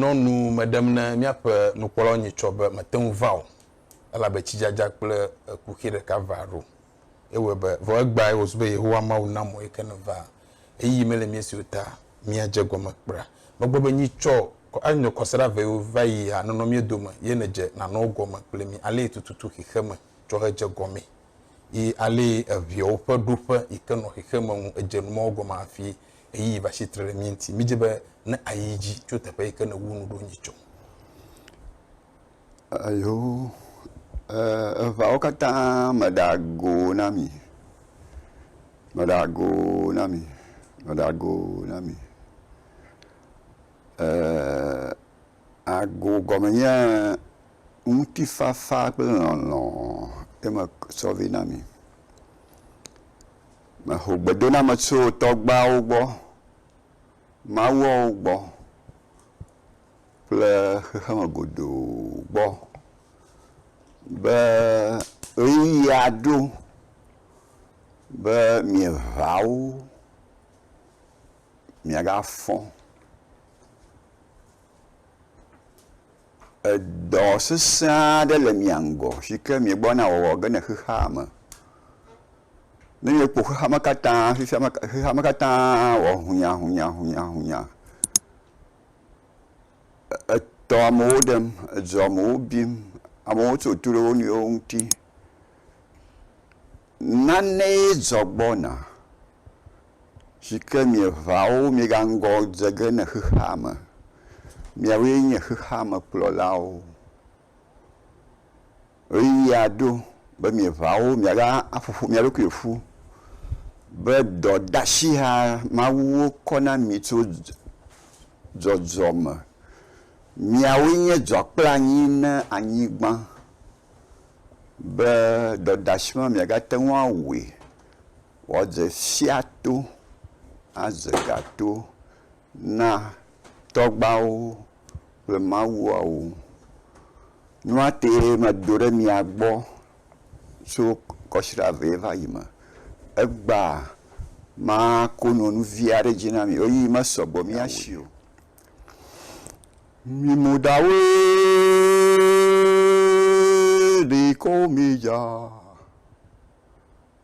Nɔ nu me ɖem ne míaƒe nukpɔlawo nyitsɔ be mete ŋu va o, elabe tsidzadza kple kuxi ɖeka va ɖo. Ewɔe be, vɔ egbeae wòzu be Yehowa Mawu na mɔe ke ne va. Ɣeyiɣi mele mía si o ta míadze egɔme kpra. Megblɔ be, Nyitsɔ anyɔ kɔsiɖa vewo va yi hã nenɔ mía dome, ye nedze nanɔ wo gɔme kple mí alee tututu xexeme tsɔ hedze gɔmee, yi alee eʋeawo ƒe ɖoƒe yi ke nɔ xexeme ŋu edze numɔwo gɔme hafi ɣeyiɣi va tsi tre ɖe mía ŋuti. Mídi be ne àyi edzi tso teƒe yi ke nèwu nu ɖo nyitsɔ. Eyo, eŋawo katã meɖe ago na mi, meɖe ago na mi, meɖe ago na mi. ago gɔme nye ŋutifafa kple lɔlɔ̃ ye metsɔ vɛ na mi. Meho gbedoname tso tɔgbeawo gbɔ, mawuawo gbɔ kple xexeme godoo gbɔ, be ɣeyiɣia ɖo be mieveawo miagafɔ. Edɔ sesẽ aɖe le mia ŋgɔ si ke miegbɔna wɔwɔ ge le xexea me. Ne mieƒo xexea me katã xexea me xexea me katã wɔ hunyahunyahunyahunya e etɔ amewo ɖem, edzu amewo bim, amewo tso to ɖe wo nɔewo ŋuti. Nanee dzɔ gbɔna. si ke mieʋã wo miegaŋgɔ dze ge le xexea me. Miawoe nye xexea me kplɔlawo. Ʋeyiʋia ɖo be mieʋã wo miagaƒo ƒu mia ɖokui ƒu be dɔdeasia mawuwo kɔ na mi tso dzɔdzɔ me. Miawoe nye dzɔ kple anyi na anyigba be dɔdeasi ma miagate ŋu awui. Woadze fiato, adze gato na tɔgbawo kple mawuawo. Nua tee medo ɖe mia gbɔ tso kɔsiɖa vɛ va yi me. Egbea mako nu nu vi aɖe dzi na mi. Ɣeyiɣi mesɔ gbɔ mía si o. Mi mo ɖawoe ɖee kɔ wo mee dza.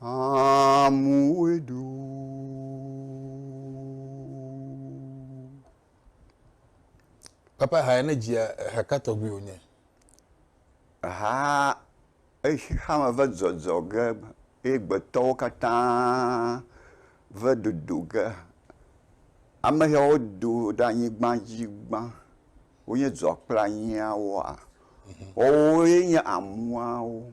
Amoe ɖu. Papa ha ne dzia ha ka tɔgbi wònye? Ha eshi ha me ve dzɔdzɔ ge eye gbetɔwo katã ve dodo ge. Ame yawo do ɖe anyigba dzi gbã. Wonye dzɔkplanyiawoa. Wowoe nye amuawo.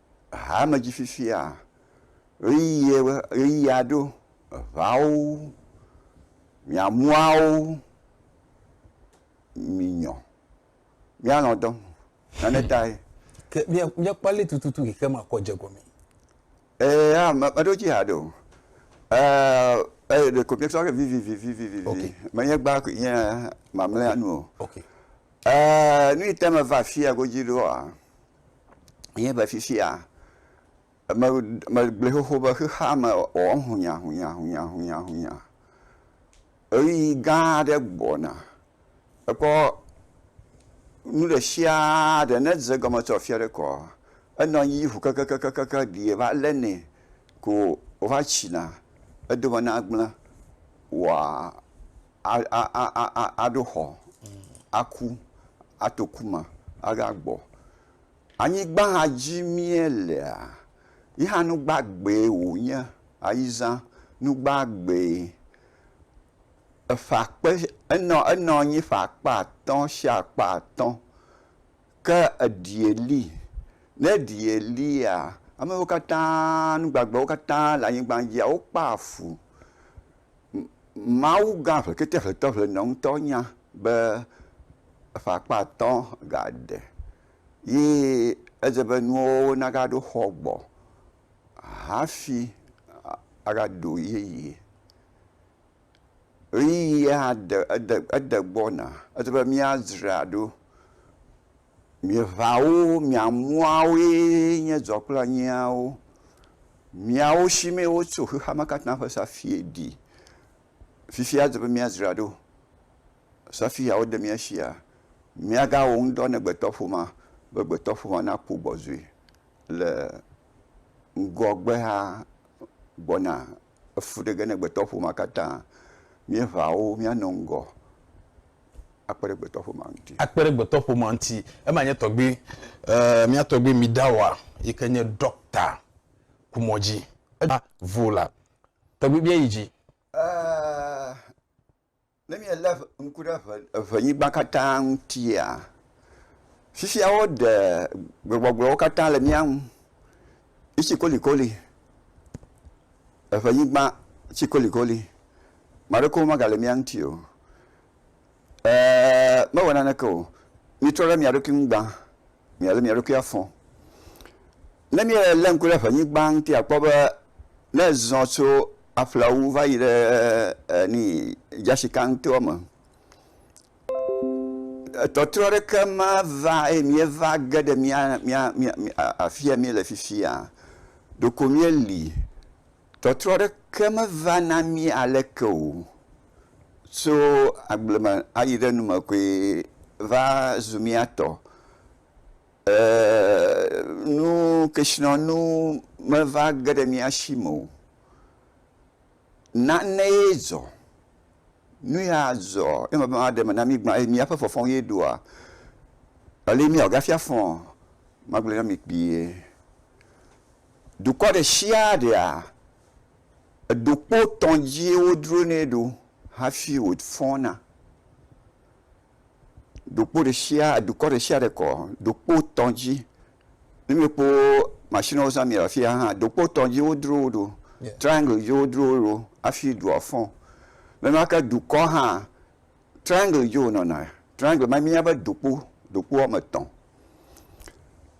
haa me dzi fifia, ɣeyiɣia ɖo, eŋawo, miamuawo, minyɔ, mialɔ̃ dɔ me. Nane tae. Ke míakpɔ alé tututu yi ke makɔ dze gɔmee. Ee, ah, meɖo dzi haɖe o. Ee, ee, ɖeko míesɔ ke vivivivivivi. Okay. Menye gbã koe nye mamlɛa nu o. Okay. Ee, nu yi te meva afia godzi ɖoa, Míele fifia, me, megblɔe xoxo be xexea me wɔ hunyahunyahunyahunya. Ɣeyiɣi gã aɖe gbɔna. Ekpɔ nu ɖe sia ɖe ne dze egɔme tso afi aɖe kɔa, enɔ anyi ʋu kekekekekekeŋ ɖi va lé nɛ ko wòva tsina. Edome nagblẽ waa. aɖo xɔ, aku, ato ku me ava gbɔ. Anyigba hã dzi mía lea, ye hã nu gbagbeɛ wò nye. Ayi zã nu gbagbeɛ. Eƒe akpe, enɔ anyi ƒe akpe atɔ si akpe atɔ. Ke eɖie li. Ne eɖie lia, ame wo katã, nu gbagbewo katã le anyigba dzia, wokpɔa fu. Mawu gã ʋletete ʋletɔ ʋlenɔ ŋutɔ nya be eƒe akpa atɔ̃ ga ɖe ye edze be nuwo na ga ɖo xɔ gbɔ hafi aga ɖo yeye. ɣeyiɣi ya hã de ede ede gbɔna edi be míadzra ɖo. Mieŋawo miamuawoe nye dzɔ kple anyiawo. Miawo si mee wotso xexea me katã ƒe safui ɖi. Fifia edi be míadzra ɖo. Safui ya wode mía sia míagawɔ ŋudɔ na gbetɔƒomea be gbetɔƒomea nakpɔ gbɔdzɔe le ŋgɔgbea gbɔna. efu ɖe ge ne gbetɔƒomea katã míeʋã wo míanɔ ŋgɔ akpe ɖe gbetɔƒomea ŋuti. Akpe ɖe gbetɔƒomea ŋuti. Ema nye tɔgbui, eh, mía tɔgbui Midawa yi ke nye ɖɔkta ku mɔ dzi. Eva vo la, tɔgbui bia yi dzi. Eh, Ne míelé ŋku ɖe ŋe, ŋenyigba katã ŋutia, fifia woɖe gbegbɔgblɔwo katã le mía ŋu. Etsi kolikoli. Eŋenyigba tsi kolikoli. Ame aɖeke megale mía ŋuti o. Eeeeee mewɔ naneke o. Míetrɔ ɖe mía ɖokui ŋu gbã. míalé mía ɖokui afɔ. Ne míelé ŋku ɖe ŋenyigba ŋuti akpɔ be ne ezɔ tso aƒlawu va yi ɖe ni dzashikantoa me etɔtrɔ ɖeke mava eye míeva ge ɖe mía mía mía afi yi míele fifia ɖeko míeli. Tɔtrɔ aɖeke meva na mí aleke o. Tso agble me ayi ɖe nu me koe va zu mía tɔ. E nu kesinɔnu meva ge ɖe mía si me o. Nanee dzɔ, nu ya dzɔ eye meva ɖe eme na mí gbã eye míaƒe fɔfɔ ye ɖoa, aleke míawɔ hafi afɔ? Magblɔe na mi kpuie. Dukɔ ɖe sia ɖea, eɖokpo etɔ̃ dzie wodronɛ ɖo hafi wòfɔna. Ɖokpo ɖe sia, dukɔ ɖe sia ɖe kɔ ɖokpo etɔ̃ dzi. Ne míekpɔ mashiniwo woza le afi ya hã, ɖokpo etɔ̃ dzi wodro wo ɖo. Triangle dzi wodro wo ɖo hafi dua fɔ. Nenema ke dukɔ hã, triangle dzi wònɔna, triangle ma míeyɔna be dokpo, dokpo woame etɔ̃.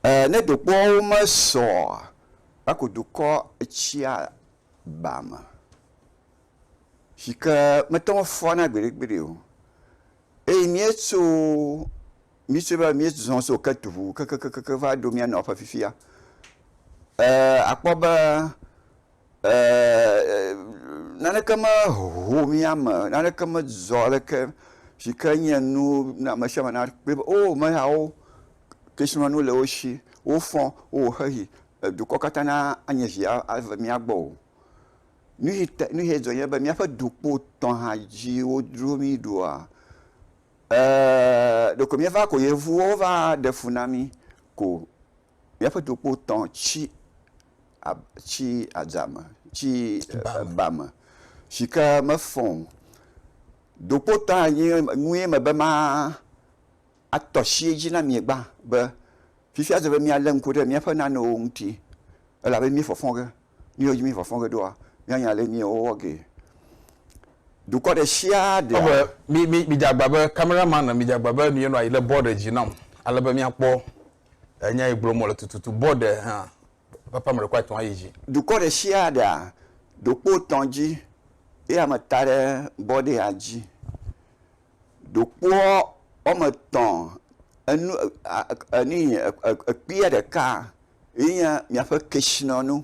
Ee ne dokpoawo mesɔ oa, eko dukɔ etsia ba me si ke mete ŋu fɔna gbeɖegbeɖe o eye míetso, míetsoe va yi, míezɔ tso Ketu ŋu kekekekekeŋ va ɖo mía nɔƒe fifia. Ee akpɔ be. Naneke meho mía me, naneke medzɔ aleke si ke nye nu ne ame sia ame nakpɔe be o ame yawo kesinɔnuwo le wo si, wofɔ wowɔ xexi, dukɔ katã nanye zi ava mía gbɔ o. Nu si te nu si dzɔ nye be míaƒe dukpo tɔ̃ hã dzi wodro mí ɖoa? Ee, ɖeko míeva ko yevuwo va ɖe fu na mí ko. míaƒe dokpo tɔ tsi ab tsi adza me tsi ba me si ke mefɔ o. Dokpo tɔ anyi nue mebe ma atɔ tsi edzi na mi gbã be fifia eze be míalé ŋku ɖe míaƒe nanewo ŋuti elabe mí fɔfɔ ge. Nu yiwo dzi mí fɔfɔ ge ɖoa míanya ale mí wowɔ gee. Dukɔ ɖe sia ɖe. Ebe mi mi midze agba be camera man midze agba be nu ye nɔ anyi le bɔ ɖe dzi nam ale be míakpɔ Enya yi gblɔm wòle tututu. Bɔ ɖe hã papa ame ɖekɔ etɔ̃ ayi dzi. Dukɔ ɖe sia ɖea ɖokpo tɔ̃ dzi ye ame ta ɖe bɔ ɖe ya dzi. Ɖokpoɔ wɔme tɔ̃ enu a e e enu yi ekpia ɖeka ye nye miaƒe kesinɔnu.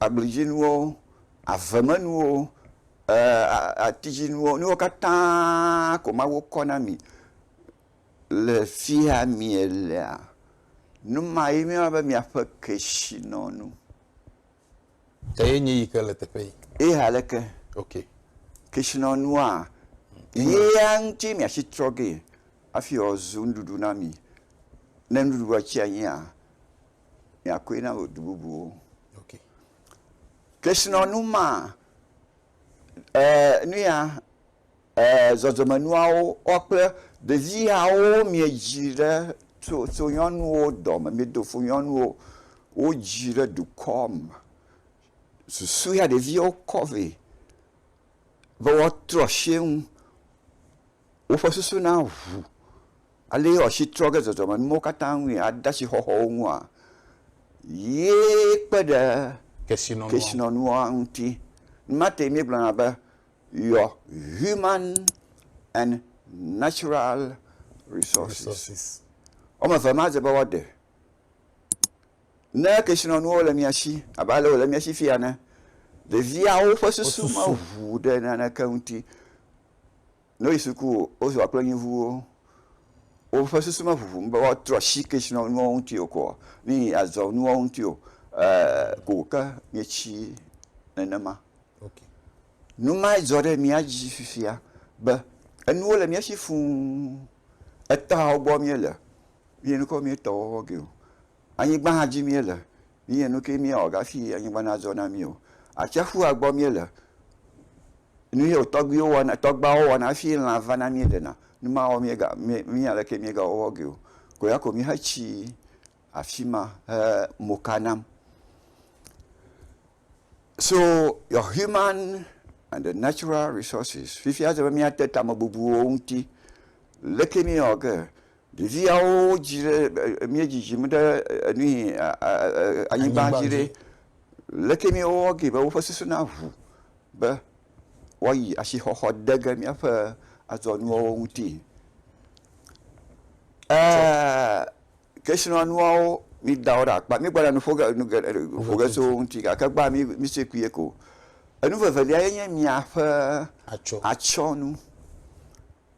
agbledzinuwo, avemenuwo, atidzinuwo, nuwo katã ko Mawu kɔ na mi le fia mielea, nu ma ye nye miaƒe kesinɔnu. Eye nye yi ke le teƒe yi. Eye aleke? Ok. Kesinɔnua, yea ŋuti miatsi trɔ ge hafi wòazu nuɖuɖu na mi. Ne nuɖuɖua tsi anyi a, miakoe na wò du bubuwo. Okay. Kesinɔnu ma e, nuya e, zɔzɔmenuawo kɔ kple ɖevi yawo miedzi ɖe tso tso nyɔnuwo dɔme miedo fo nyɔnuwo wodzi ɖe dukɔ me susu ya ɖeviwo kɔ vɛ be woatrɔ sie ŋu woƒe susu na ʋu. Ale ye wòasi trɔ ge zɔzɔmenuwo katã ŋui ade asi xɔxɔwo ŋua? Ye kpe ɖe kesinɔnua ŋuti. Nu ma tae míegblɔna be your human and natural resources. Woame eve ma dze be woaɖe. Ne kesinɔnuwo le mia si abe ale wòle mia si fiya ene, ɖeviawo ƒe susu meʋu ɖe naneke ŋuti. Ne woyi suku o, wozua kple nyɔnuviwo. Woƒe susu meʋuʋum be woatrɔ asi ke srɔ̃ nuwo ŋuti o koa nu yi azɔ nuwo ŋuti o ɛɛ ko wòke míetsi nenema. Ok. Nu mae dzɔ ɖe mía dzi fifia be enuwo le mía si fũu. Etɔhawo gbɔ míele. Míenukɔ míetɔ wɔwɔ ge o. Anyigba hã dzi míele. míe nu ke míawɔ hafi anyigba nazɔ na mí o. Atsiaƒua gbɔ míele, nu ye wò tɔgbuiwo wɔna, tɔgbuawo wɔna hafi lã va na mí ɖena, nu mawo míega, mí, mí ale ke míegawɔwɔ ge o. Ko ya ko míhetsi afi ma he mo ka nam. So your human and the natural resources, fifia ele be míate tamebubuwo ŋuti. Leke míawɔ ge? Ɖeviawo dzi ɖe e mía dzidzim ɖe enu yi e e anyigba dzi ɖe. Leke mía wɔ gee be woƒe susu na ʋu be woayi asixɔxɔ de ge míaƒe adzɔnuawo ŋuti? Eeeee kesinɔnuawo mí da wo ɖe akpa. Mí gbɔna nu ƒo ge nu geɖe ƒo ge tso wo ŋuti gake gbɔa mí mí se kui eko. Enu vevelia ye nye míaƒe atsyɔnu.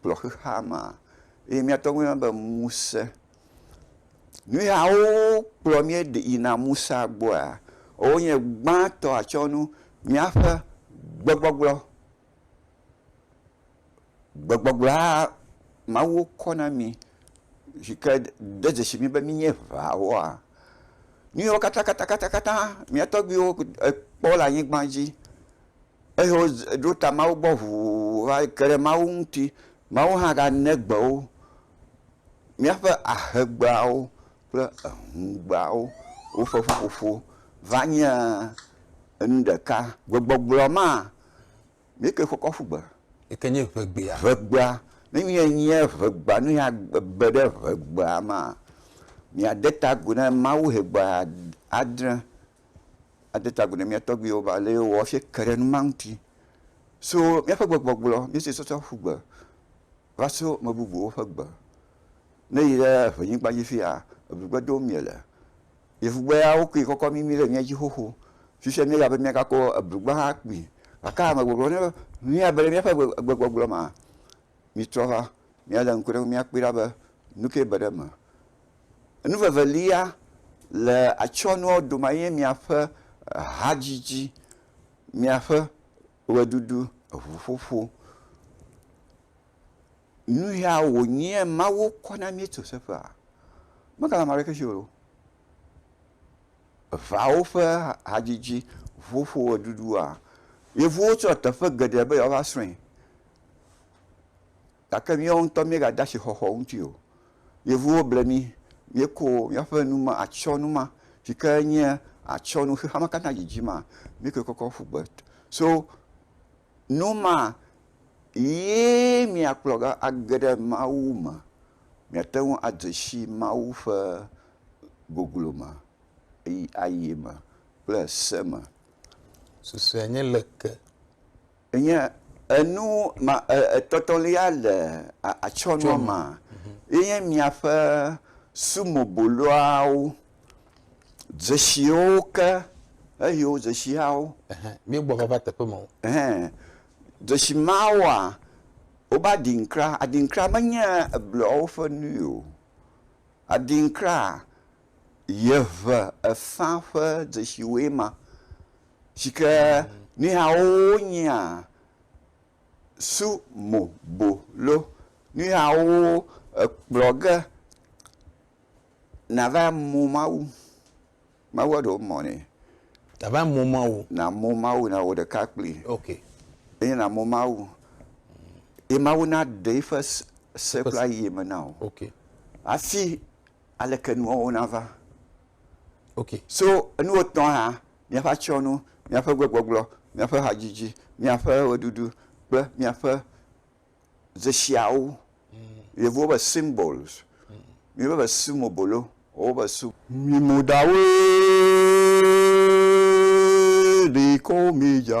kplɔ xexea mea, ye míate ŋu ayɔna be ŋusẽ. Nu yawo kplɔ mí ɖe yina ŋusẽa gbɔa, wonye gbãtɔ atsyɔ̃nu míaƒe gbegbɔgblɔ. Gbegbɔgblɔa Mawu kɔ na mí yi ke de dzesi mí be mínye ʋãwoa, nu yawo katãkatãkatã mía tɔgbuiwo kpɔ le anyigba dzi eye woɖo ta Mawu gbɔ ʋuu va ke ɖe Mawu ŋuti. Mawu hã gane gbe wo, míaƒe ahegbeawo kple ehũgbeawo, woƒe ƒuƒoƒo va nye enu ɖeka. Gbegbɔgblɔ ma, nu ke wokɔ ƒu gbe. Yi ke nye ŋegbea. Ŋegbea. Ne míenye ŋegbea, nu ya be ɖe ŋegbea mea, míade ta agu na Mawu ŋegbea adre ade ta agu na mía tɔgbuiwo be ale wowɔ hafi ke ɖe nu ma ŋuti. So míaƒe gbegbɔgblɔ, míese sɔsɔ ƒu gbe va so ame bubuwo ƒe gbe. Ne èyi ɖe ʋenyigba dzi fi ya, egbugbe dom miele. Yevugbe ya, wokui kɔkɔ mimi ɖe mía dzi xoxo. Fifia míeya be míagakɔ eblugbe hã akpui. Gake amegbɔgblɔ na mí be míabe ɖe míaƒe gbegbɔgblɔ mea, mítrɔ va míalé ŋku ɖe eŋu míakpɔe ɖa be nu kae be ɖe eme. Enu vevelia le atsyɔ̃nuawo dome ye nye míaƒe hadzidzi, míaƒe ʋeɖuɖu, eŋuƒoƒo. Nu ya wònyea Mawu kɔ na mí tso teƒea? Megale ame aɖeke si o. Eŋawo ƒe hadzidzi, ŋuƒoƒo, ʋeɖuɖua, yevuwo tsɔ teƒe geɖe be yewoava srɔ̃e. gake míawo ŋutɔ míegade asixɔxɔ ŋuti o. Yevuwo ble mí, míeko míaƒe nu ma, atsyɔ̃nu ma si ke nye atsyɔ̃nu xexea me katã dzidzi ma, míekɔe kɔkɔ ƒu gbe. So nu ma ye miakplɔ ge age ɖe Mawu me, miate ŋu ade si Mawu ƒe goglo me eye ayi eme kple se me. Susɔe nye leke? Enye enu ma etɔ̃tɔ̃lia le atsyɔ̃nua me ye nye miaƒe sumoboloawo, dzesiwo ke eye wo dzesiawo. Míegbɔ va va teƒe mawo. Dzesi mawoa, wobe adinkra. Adinkra menye ebluawo ƒe nui o. Adinkra, yeʋe efã ƒe dzesiwoe ma. si ke nuyawo nyea sumobolo, nuyawo ekplɔ ge nàva mɔ Mawu. Mawua ɖewo mɔ nɛ. Nàva mɔ Mawu. Nàmɔ Mawu, nàwɔ ɖeka kplii. Ok. Eye nàmɔ Mawu. Ye Mawu naɖe eƒe se kple ayeye me na wò. Ok. Hafi aleke nuawo nava. Ok, so enuwo etɔ̃a hã, míaƒe atsyɔ̃nu, míaƒe gbegbɔgblɔ, míaƒe hadzidzi, míaƒe ʋeɖuɖu kple míaƒe dzesiawo. Yevuwo be symbols, míwo be symobolo, wowo be sym. Mimodawoe ɖi kɔ wo midza.